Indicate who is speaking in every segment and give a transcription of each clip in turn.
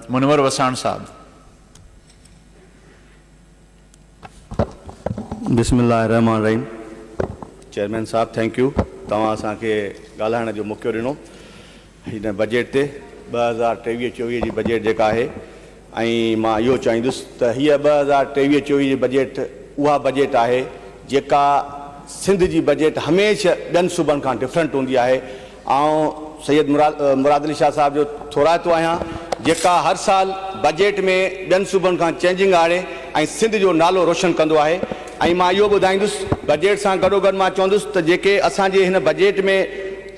Speaker 1: منور وساڻ صاحب.
Speaker 2: بسم الله الرحمٰن الرحيم چيئرمين صاحب ٿينڪ يو توهان اسان کي ڳالهائڻ جو موقعو ڏنو هن بجيٽ تي ٻه هزار ٽيويهه چويهه جي بجيٽ جيڪا آهي ۽ مان اهو چاهيندس ته هيء ٻه هزار ٽيويهه چويهه جي بجيٽ اها بجيٽ آهي جيڪا سنڌ جي بجيٽ هميشه ٻين صوبن کان ڊفرنٽ هوندي آهي آئون سيد مراد علي شاهه صاحب جو ٿورائتو آهيان، جيڪا هر سال بجيٽ ۾ ٻين صوبن کان چينجنگ آڻي ۽ سنڌ جو نالو روشن ڪندو آهي ۽ مان اهو ٻڌائيندس بجيٽ سان گڏوگڏ مان چوندس ته جيڪي اسان جي هن بجيٽ ۾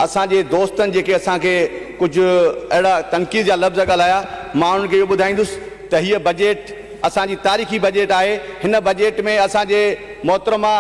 Speaker 2: اسان جي دوستن جيڪي اسان کي ڪجهه اهڙا تنقيد جا لفظ ڳالهايا مان انهن کي اهو ٻڌائيندس ته هيء بجيٽ اسان جي تاريخي بجيٽ آهي هن بجيٽ ۾ اسان جي محترمه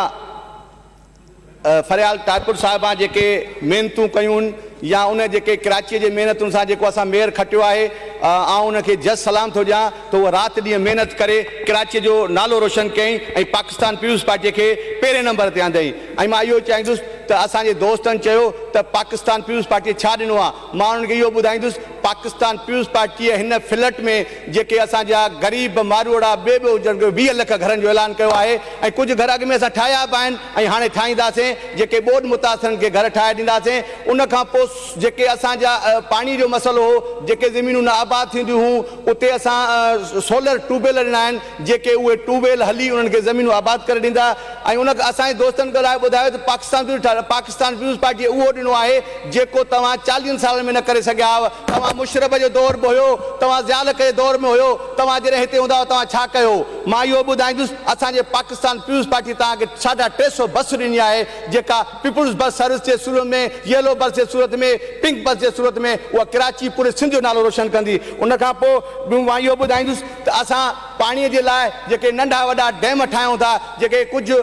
Speaker 2: فريال ٽاڪر صاحبان جيڪي محنتون ڪيون يا ان جيڪي ڪراچيء جي محنتن سان جيڪو اسان مير کٽيو آهي آئون ان کي جس سلام ٿو ڏيان ته هوء رات ڏينهن محنت ڪري ڪراچيء جو نالو روشن ڪيائين ۽ پاڪستان پيپلز پارٽيء کي پهرين نمبر تي آندائين ۽ مان اهو چاهيندس ته اسان جي دوستن چيو ته پاڪستان پيپلز پارٽيء ڇا ڏنو آهي مان انهن کي اهو ٻڌائيندس پاڪستان پيپلز پارٽيء هن فلٽ ۾ جيڪي اسان جا غريب ماروئڙا ٻئي ٻئي هجن ڪيو ويهه لک گهرن جو اعلان ڪيو آهي ۽ ڪجهه گهر اڳ ۾ اسان ٺاهيا به آهن ۽ هاڻي ٺاهينداسين جيڪي ٻوڏ متاثرن کي گهر ٺاهي ڏينداسين ان کان پوء جيڪي اسان جا پاڻي جو مسئلو هو جيڪي زمينون نه آباد ٿينديون هيون اتي اسان سولر ٽيوب ويل ڏنا آهن جيڪي اهي ٽيوب ويل هلي انهن کي زمينون آباد ڪري ڏيندا ۽ ان کان اسان جي دوستن ڳالهايو ٻڌايو ته پاڪستان پيوز ٺاهه پاڪستان پيوز پارٽي اهو ڏنو آهي جيڪو توهان چاليهن سالن ۾ نه ڪري سگهيا هئو توهان مشرف جو دور به هيو توهان ضياء الحق جي دور ۾ هيو توهان جڏهن هتي هوندا هئا توهان ڇا ڪيو مان اهو ٻڌائيندس اسان جي پاڪستان پيوز پارٽي توهان کي ساڍا ٽي سو بس ڏني آهي جيڪا پيپلز بس سروس جي صورت ۾ ييلو بس جي صورت ۾ پنڪ بس جي صورت ۾ اها ڪراچي پوري سنڌ جو نالو روشن ڪندي ان کان پوء مان اهو ٻڌائيندس ته اسان پاڻي جي لاء جيڪي ننڍا وڏا ڊيم ٺاهيون ٿا، جيڪي ڪجهه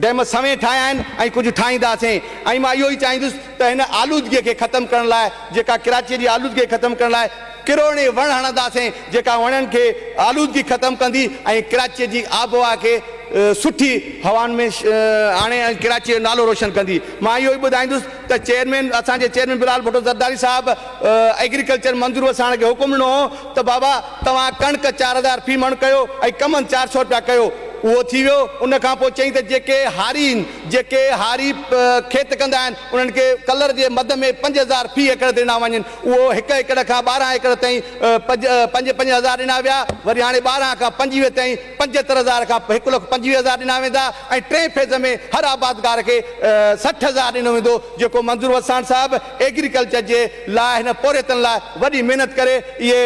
Speaker 2: ڊيم سوين ٺاهيا آهن ۽ ڪجهه ٺاهينداسين ۽ مان اهو ئي چاهيندس ته هن آلودگي کي ختم ڪرڻ لاء جيڪا ڪراچي جي آلودگي ختم ڪرڻ لاء ڪروڙين وڻ هڻنداسين جيڪا وڻن کي آلودگي ختم ڪندي ۽ ڪراچي جي آبهوا کي سٺي هوائن ۾ آڻي ۽ ڪراچي جو نالو روشن ڪندي مان اهو ئي ٻڌائيندس ته چيئرمين اسان جي چيئرمين بلال ڀٽو زرداري صاحب ايگريڪلچر منظور وساڻ کي حڪم ڏنو هو ته بابا توهان ڪڻڪ چار هزار في مڻ ڪيو ۽ ڪمند چار سؤ رپيا ڪيو اهو ٿي ويو ان کان پوء چيائين ته جيڪي هاري آهن جيڪي هاري کيت ڪندا آهن انهن کي ڪلر جي مد ۾ پنج هزار في ايڪڙ ڏنا وڃن اهو هڪ ايڪڙ کان ٻارهن ايڪڙ تائين پنج پنج هزار ڏنا ويا وري هاڻي ٻارهن کان پنجويهه تائين پنجهتر هزار کان هڪ لک پنجويهه هزار ڏنا ويندا ۽ ٽئين فيز ۾ هر آبادگار کي سٺ هزار ڏنو ويندو جيڪو منظور وساڻ صاحب ايگريڪلچر جي لاء هن پورهيتن لاء وڏي محنت ڪري اهي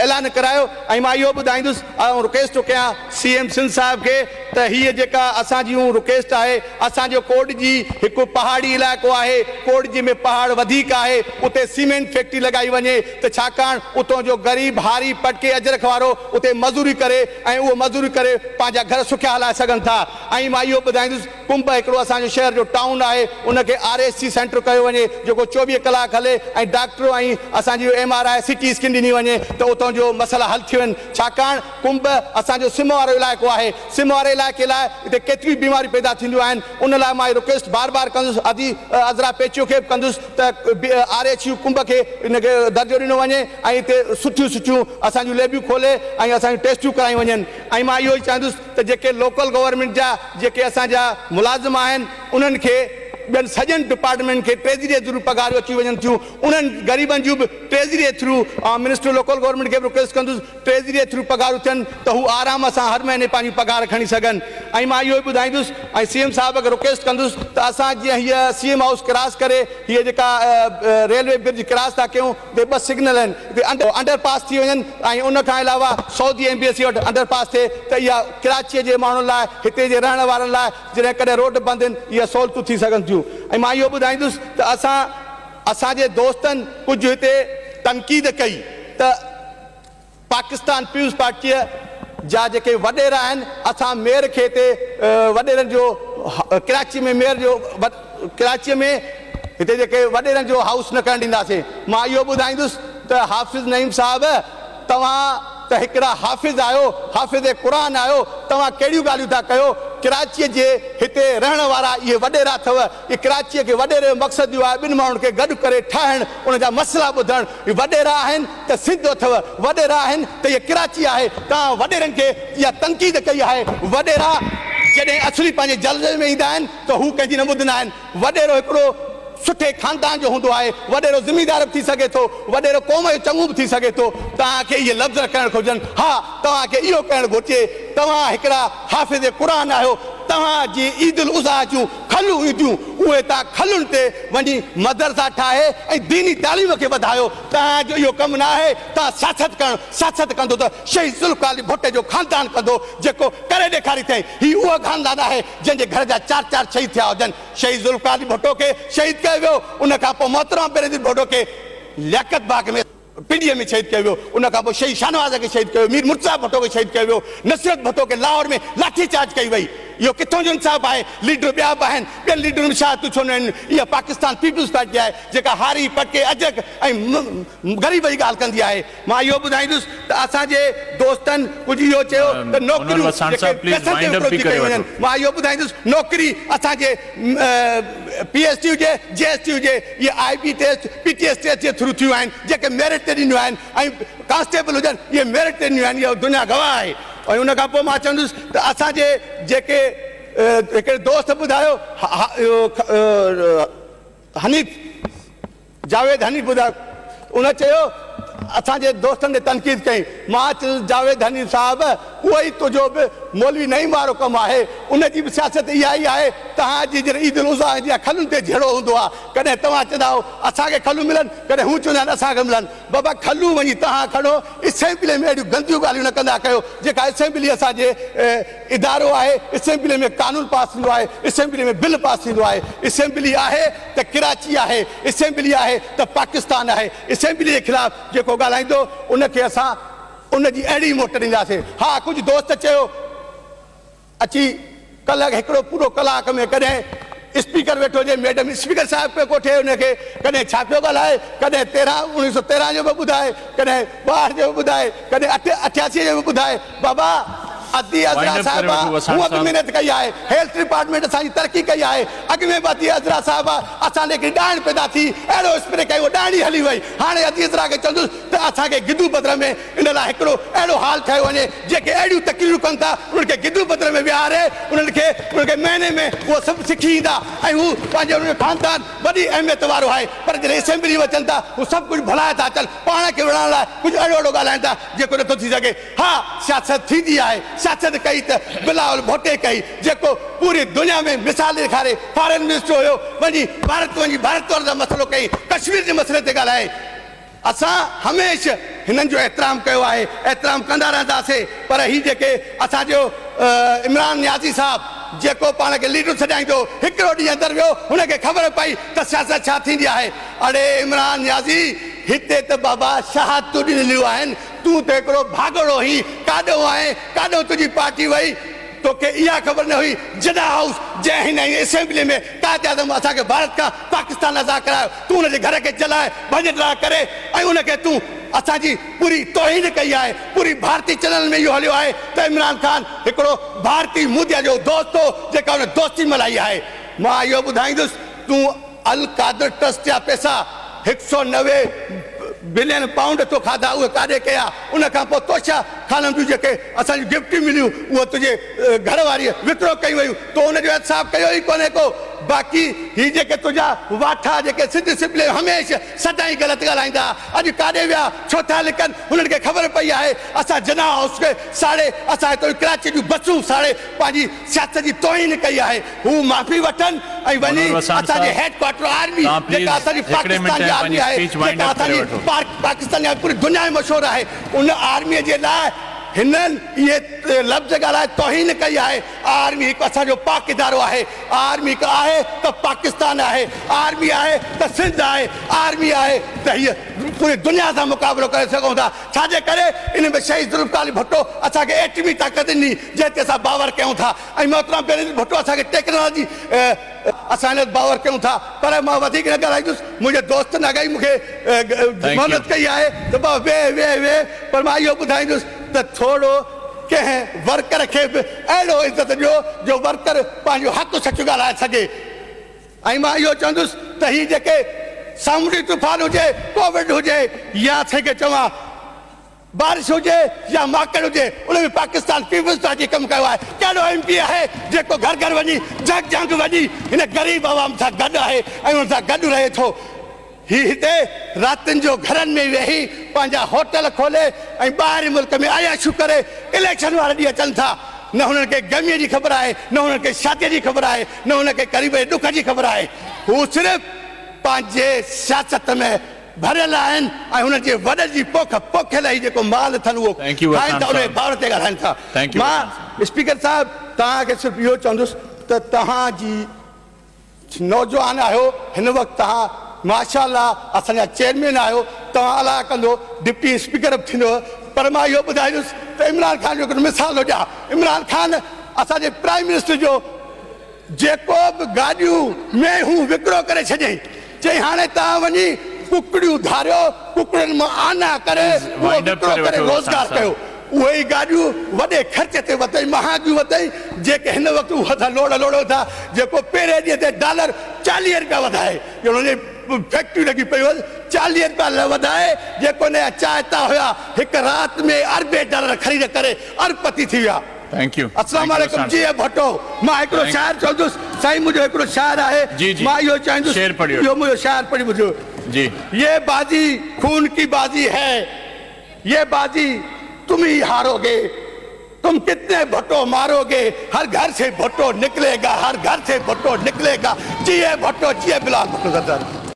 Speaker 2: اعلان ڪرايو ۽ مان اهو ٻڌائيندس ۽ رڪويسٽ ٿو ڪيان سي ايم سنڌ صاحب کي ته هيء جيڪا اسان جي اهو رڪويسٽ آهي اسان جو ڪوڏجي هڪ پهاڙي علائقو آهي ڪوڏجي ۾ پهاڙ وڌيڪ آهي اتي سيمينٽ فيڪٽري لڳائي وڃي ته ڇاڪاڻ اتو جو غريب، هاري، پٽڪي اجرڪ وارو اتي مزوري ڪري ۽ اهو مزوري ڪري پنهنجا گهر سکيا هلائي سگهن ٿا ۽ مان اهو ٻڌائيندس ڪنب هڪڙو اسان جو شهر جو ٽائون آهي ان کي آر ايس سي سينٽر ڪيو وڃي جيڪو چوويهه ڪلاڪ هلي ۽ ڊاڪٽر ۽ اسان جي M R I C T scan ڏني وڃي ته اتو جو مسئلا حل ٿي وڃن ڇاڪاڻ ڪنب اسان جو سم وارو علائقو آهي سم واري علائقي لاء اتي ڪيتريون بيماريون پيدا ٿينديون آهن ان لاء مان اهي رڪويسٽ بار بار ڪندس ادي عذرا پيچيو کي به ڪندس ته آر ايڇ يو ڪنب کي ان کي درجو ڏنو وڃي ۽ اتي سٺيون سٺيون اسان جون ليبيون کولي ۽ اسان جون ٽيسٽيون ڪرايون وڃن ۽ مان اهو ئي چاهندس ته جيڪي لوڪل گورنمينٽ جا جيڪي اسان جا ملازم آهن انهن کي ٻين سڄن ڊپارٽمينٽن کي ٽريزري جي ٿرو پگهاريون اچي وڃن ٿيون انهن غريبن جون به ٽريزري جي ٿرو آئون منسٽر لوڪل گورنمينٽ کي به رڪويسٽ ڪندس ٽريزريء ٿرو پگهارون ٿين ته هو آرام سان هر مهيني پنهنجون پگهار کڻي سگهن ۽ مان اهو ئي ٻڌائيندس ۽ سي ايم صاحب کي رڪويسٽ ڪندس ته اسان جيئن هيء سي ايم هائوس ڪراس ڪري هيء جيڪا ريلوي برج ڪراس ٿا ڪيون اتي ٻه سگنل آهن اتي انڊر پاس ٿي وڃن ۽ ان کان علاوه سعودي ايمبيسي وٽ انڊر پاس ٿئي ته اها ڪراچيء جي ماڻهن لاء هتي جي رهڻ وارن لاء جڏهن ڪڏهن روڊ بند هن اهي سهولتون ٿي سگهن ٿيون ۽ مان اهو ٻڌائيندس ته اسان اسان جي دوستن ڪجهه هتي تنقيد ڪئي ته پاڪستان پيپلز پارٽيء جا جيڪي وڏيرا آهن، اسان ميئر کي هتي وڏيرن جو ڪراچيء ۾ ميئر جو ڪراچيء ۾ هتي جيڪي وڏيرن جو هائوس نه ڪرڻ ڏينداسين. مان اهو ٻڌائيندس ته حافظ نعيم صاحب توهان ته هڪڙا حافظ آهيو، حافظ قرآن آهيو، توهان ڪهڙيون ڳالهيون ٿا ڪيو، ڪراچيء جي هتي رهڻ وارا اهي وڏيرا اٿو، هي ڪراچيء کي وڏيري جو مقصد اهو آهي ٻن ماڻهن کي گڏ ڪري ٺاهڻ انهن جا مسئلا ٻڌڻ هي وڏيرا آهن ته سنڌ اٿئو وڏيرا آهن ته هيء ڪراچي آهي توهان وڏيرن کي اها تنقيد ڪئي آهي وڏيرا جڏهن اصلي پنهنجي جلوي ۾ ايندا آهن ته هو ڪنهن جي نه ٻڌندا آهن وڏيرو هڪڙو سٺي خاندان جو هوندو آهي وڏيرو زميندار به ٿي سگهي ٿو وڏيرو قوم جو چڱو به ٿي سگهي ٿو توهان کي اهي لفظ نه ڪرڻ کپجن ها توهان کي اهو ڪرڻ گهرجي توهان هڪڙا حافظ قرآن آهيو توهان جي عيد الاضحيٰ جون کلون اينديون، اهي تان کلن تي وڃي مدرسا ٺاهي ۽ ديني تعليم کي وڌايو، تان جو اهو ڪم نه آهي تان سياست ڪرڻ، سياست ڪندو ته شهيد ذوالفقار علي ڀٽي جو خاندان ڪندو، جيڪو ڪري ڏيکاريٿئين، هي اهو خاندان آهي جنهن جي گهر جا چار چار شهيد ٿيا هجن، شهيد ذوالفقار علي ڀٽو کي شهيد ڪيو ويو، ان کان پوء محترمه بينظير ڀٽو کي لياقت باغ ۾. پنڊيء ۾ شهيد ڪيو ويو، ان کان پوء شهيد شاهنواز کي شهيد ڪيو، مير مرتضيٰ ڀٽو کي شهيد ڪيو ويو، نصرت ڀٽو کي لاهور ۾ لاٺي چارج ڪئي وئي، اهو ڪٿان جو انصاف آهي، ليڊر ٻيا به آهن، ٻين ليڊرن ۾ شهادتون ڇو نه آهن، اها پاڪستان پيپلز پارٽي آهي، جيڪا هاري، پڪي، اجهڪ ۽ غريب جي ڳالهه ڪندي آهي. مان اهو ٻڌائيندس ته اسان جي دوستن ڪجهه اهو چيو ته نوڪريون جيڪي پئسن تي وڪرو ٿي ڪيون وڃن، مان اهو ٻڌائيندس نوڪري اسان جي پي ايس ٽي هجي، جي ايس ٽي هجي، اهي I B test P T S test جي ٿرو ٿيون آهن جيڪي ميرٽ تي ڏنيون آهن ۽ ڪانسٽيبل هجن اهي ميرٽ تي ڏنيون آهن اها دنيا گواهه آهي ۽ ان کان پوء مان چوندس ته اسان جي جيڪي هڪڙي دوست ٻڌايو اهو حنيف جاويد حنيف ٻڌايو ان چيو ته اسان جي دوستن تي تنقيد ڪئين، مان چيس جاويد حنين صاحب اهو ئي تنهنجو به مولوي نعيم وارو ڪم آهي، ان جي به سياست اها ئي آهي، تهان جي جڏهن عيد الاضحيٰ ايندي آهي کلن تي جهيڙو هوندو آهي، ڪڏهن توهان چوندا آهو اسان کي کلون ملن، ڪڏهن هو چوندا آهن اسان کي ملن، بابا کلون وڃي تهان کڻو، اسيمبليء ۾ اهڙيون گنديون ڳالهيون نه ڪندا ڪيو، جيڪا اسيمبلي اسان جي. ادارو آهي، اسيمبلي ۾ قانون پاس ٿيندو آهي، اسيمبلي ۾ بل پاس ٿيندو آهي، اسيمبلي آهي ته ڪراچي آهي، اسيمبلي آهي ته پاڪستان آهي، اسيمبلي جي خلاف جيڪو ڳالهائيندو ان کي اسان ان جي اهڙي ئي موٽ ڏينداسين. ها ڪجهه دوست چيو اچي ڪلهه هڪڙو پورو ڪلاڪ ۾ ڪڏهن. اسپيڪر ويٺو هجي، ميڊم اسپيڪر صاحب پيو ڪوٺي ان کي، ڪڏهن ڇا پيو ڳالهائي، ڪڏهن تيرهن اڻويهه سؤ تيرهن جو پيو ٻڌائي، ڪڏهن ٻاهٺ جو پيو ٻڌائي، ڪڏهن اٺ اٺياسي جو پيو ٻڌائي، بابا ادي عذرا صاحبه هونء به محنت ڪئي آهي، هيلٿ ڊپارٽمينٽ اسان جي ترقي ڪئي آهي، اڳ ۾ به ادي عذرا صاحبه اسان ڏي هڪڙي ڏائڻ پيدا ٿي، اهڙو اسپري ڪيو ڏائڻي هلي وئي، هاڻي ادي عذرا کي چوندس ته اسان کي گدو بدر ۾ ان لاء هڪڙو اهڙو هال ٺاهيو وڃي، جيڪي اهڙيون تقريرون ڪن ٿا، انهن کي گدو بدر ۾ ويهاري، انهن کي انهن کي مهيني ۾ اهو سڀ سکي ايندا ۽ هو پنهنجي انهن جو خاندان وڏي اهميت وارو آهي، پر جڏهن اسيمبليء ۾ اچن ٿا، هو سڀ ڪجهه ڀلائي ٿا اچن، پاڻ کي وڙهڻ لاء ڪجهه اهڙو اهڙو ڳالهائين ٿا، جيڪو نٿو ٿي سگهي. ها، سياست ٿيندي آهي، سياست ڪئي ته بلاول ڀٽي ڪئي، جيڪو پوري دنيا ۾ مثال ڏيکاري فارن منسٽر هيو، وڃي ڀارت وڃي ڀارت وارن سان مسئلو ڪيائين، ڪشمير جي مسئلي تي ڳالهايائين، اسان هميشه هنن جو احترام ڪيو آهي، احترام ڪندا رهنداسين پر هي جيڪي اسان جو عمران نيازي صاحب جيڪو پاڻ کي ليڊر سڏائيندو هڪڙو ڏينهن اندر ويو هن کي خبر پئي ته سياست ڇا ٿيندي آهي اڙي عمران نيازي هتي ته بابا شهادتون ڏنليون آهن تون ته هڪڙو ڀاڳوڙو هين ڪاڏو آهين ڪاڏو تنهنجي پارٽي وئي توکي اها خبر نه هئي جڏا هائوس جنهن هن ۽ اسيمبلي ۾ قائد اعظم اسان کي ڀارت کان پاڪستان ازاد ڪرايو تون ان جي گهر کي جلائي ڀڃ ڊاهه ڪري ۽ ان کي تون اسان جي پوري توهين ڪئي آهي پوري ڀارتي چئنلن ۾ اهو هليو آهي ته عمران خان هڪڙو ڀارتي موديء جو دوست هو جيڪا هن دوستي ملهائي آهي مان اهو ٻڌائيندس تون القادر ٽرسٽ جا پئسا هڪ سؤ نوي بلين پائونڊ تو کاڌا اهي ڪاڏي ڪيا ان کان پوء توشه خانم جون جيڪي اسان جون گفٽيون مليون اهي تنهنجي گهر واريء وڪرو ڪيون ويون تو ان جو احتساب ڪيو ئي ڪونهي ڪو باقي هي جيڪي تنهنجا واٺا جيڪي سج سپليون هميشه سدائين غلط ڳالهائيندا ها اڄ ڪاڏي ويا ڇو ٿا لڪن هنن کي خبر پئي آهي اسان جناح هائوس کي ساڙي اسان هتو جون ڪراچيء جون بسون ساڙي پنهنجي سياست جي توهين ڪئي آهي هو معافي وٺن ۽ وڃي اسان جي هيڊ ڪوارٽر آرمي جيڪا اسان جي پاڪستان جي آرمي آهي جيڪا اسان جي پاڪستان جي پوري دنيا ۾ مشهور آهي ان آرمي جي لاء هنن اهي لفظ ڳالهائي توهين ڪئي آهي آرمي هڪ اسان جو پاڪ ادارو آهي آرمي هڪ آهي ته پاڪستان آهي آرمي آهي ته سنڌ آهي آرمي آهي ته هيء پوري دنيا سان مقابلو ڪري سگهون ٿا. ڇا جي ڪري ان ۾ شهيد ذوالفقار علي ڀٽو اسان کي ايٽمي طاقت ڏني جنهن تي اسان باور ڪيون ٿا ۽ محترم بينظير ڀٽو اسان کي ٽيڪنالاجي اسان ان تي باور ڪيون ٿا پر مان وڌيڪ نه ڳالهائيندس منهنجي دوستن اگهائي مون کي محنت ڪئي آهي ته بابا ويهه ويهه ويهه پر مان اهو ٻڌائيندس ته ٿورو ڪنهن ورڪر کي به اهڙو عزت ڏيو جو ورڪر پنهنجو حق سچ ڳالهائي سگهي. ۽ مان اهو چوندس ته هي جيڪي سامونڊي طوفان هجي، ڪووڊ هجي يا اسين کي چوان بارش هجي يا ماڪڙ هجي ان ۾ پاڪستان پيپلز پارٽي ڪم ڪيو آهي. ڪهڙو ايم پي آهي جيڪو گهر گهر وڃي جهڪ جهنگ وڃي هن غريب عوام سان گڏ آهي ۽ ان سان گڏ رهي ٿو. هي هتي راتين جو گهرن ۾ ويهي پنهنجا هوٽل کولي ۽ ٻاهرين ملڪ ۾ عياشيون ڪري اليڪشن واري ڏينهن اچن ٿا. نه هنن کي غميء جي خبر آهي، نه هنن کي شاديء جي خبر آهي، نه هنن کي قريب جي ڏک جي خبر آهي. هو صرف پنهنجي سياست ۾ ڀريل آهن ۽ هنن جي وڏن جي پوک پوکيل هي جيڪو مال اٿن اهو کائن ٿا انهيء بابت تي ڳالهائن ٿا. مان اسپيڪر صاحب توهان کي صرف اهو چوندس ته توهان جي نوجوان آهيو هن وقت توهان ماشا الله اسان جا چيئرمين آهيو توهان الله ڪندو ڊپٽي اسپيڪر به ٿيندو پر مان اهو ٻڌائيندس ته عمران خان جو هڪڙو مثال ٿو ڏيان عمران خان اسان جي پرائيم منسٽر جو جيڪو به گاڏيون مينهون وڪرو ڪري ڇڏيائين چئي هاڻي توهان وڃي ڪڪڙيون ڌاريو، ڪڪڙين مان آنا ڪري اهو وڪرو ڪري روزگار ڪيو. اهي ئي گاڏيون وڏي خرچ تي وتئين مهانگيون وتئين جيڪي هن وقت اهي اسان لوڙ لوڙ وٺا جيڪو پهرين ڏينهن تي ڊالر چاليهه رپيا وڌائي ڄڻ ان جي فيڪٽريون لڳي پيون هئس چاليهه رپيا وڌائي جيڪو ان جا چائتا هيا هڪ رات ۾ اربين ڊالر خريد ڪري اربپتي ٿي ويا. Thank you. اسلام عليڪم جي اي ڀٽو مان هڪڙو شاعر چوندس سائين منهنجو هڪڙو شعر آهي مان اهو چاهيندس شعر پڙهيو اهو منهنجو شعر پڙهي ٻڌيو جي يي بازي خون ڪي بازي هي يي بازي تم هي هارو گي تم ڪتني ڀٽو مارو گي هر گهر سي ڀٽو نڪلي گا هر گهر سي ڀٽو نڪلي گا جي اي ڀٽو جي اي بلال ڀٽو زرداري.